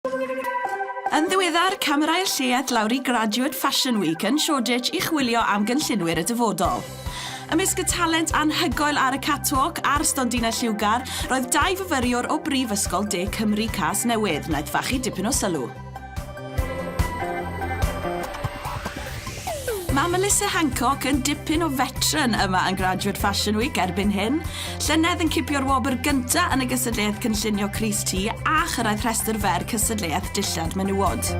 Yn ddiweddar, camerâi'r lleuad lawr i Graduate Fashion Week yn Shoreditch i chwilio am gynllunwyr y dyfodol. Ymysg y talent anhygoel ar y catwalk a'r stondinau lliwgar, roedd dau fyfyriwr o Brifysgol De Cymru Casnewydd, wnaeth fachu dipyn o sylw. Mae Melissa Hancock yn dipyn o fetran yma yn Graduate Fashion Week erbyn hyn. Llynedd yn cipio'r wobr gyntaf yn y gystadleuaeth cynllunio crys tŷ a chyrraedd rhestr fer cystadleuaeth dillad menywod.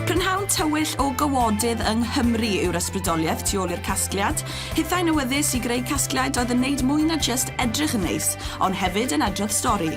Prynhawn tywyll o gawodydd yng Nghymru yw'r ysbrydoliaeth tu ôl i'r casgliad. Hithau'n awyddus i greu casgliad oedd yn wneud mwy na jyst edrych yn neis, ond hefyd yn adrodd stori.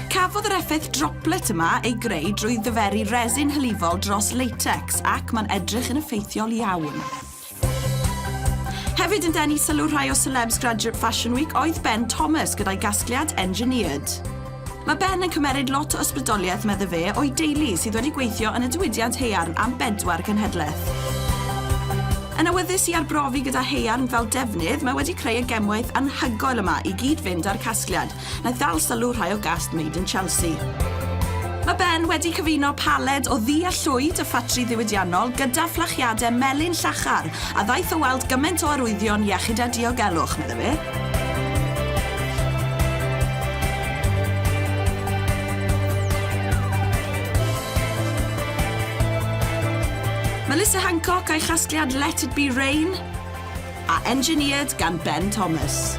Cafodd yr effaith droplet yma ei greu drwy ddyferu resin hylifol dros latex, Ac mae'n edrych yn effeithiol iawn. Hefyd yn denu sylw rhai o celebs Graduate Fashion Week oedd Ben Thomas gyda'i gasgliad Engineered. Mae Ben yn cymeryd lot o ysbrydoliaeth, medde fe, o'i deulu sydd wedi gweithio yn y diwydiant haearn am bedwar cenhedlaeth. Yn awyddus i arbrofi gyda haearn fel defnydd, mae wedi creu y gemwaith anhygoel yma i gyd-fynd â'r casgliad, Wnaeth ddal sylw rhai o gast Made in Chelsea. Mae Ben wedi cyfuno paled o ddu a llwyd y ffatri ddiwydiannol gyda fflachiadau melyn llachar a ddaeth o weld gymaint o arwyddion iechyd a diogelwch, meddai fe. Melissa Hancock a'i chasgliad Let It Be Rain A engineered gan Ben Thomas.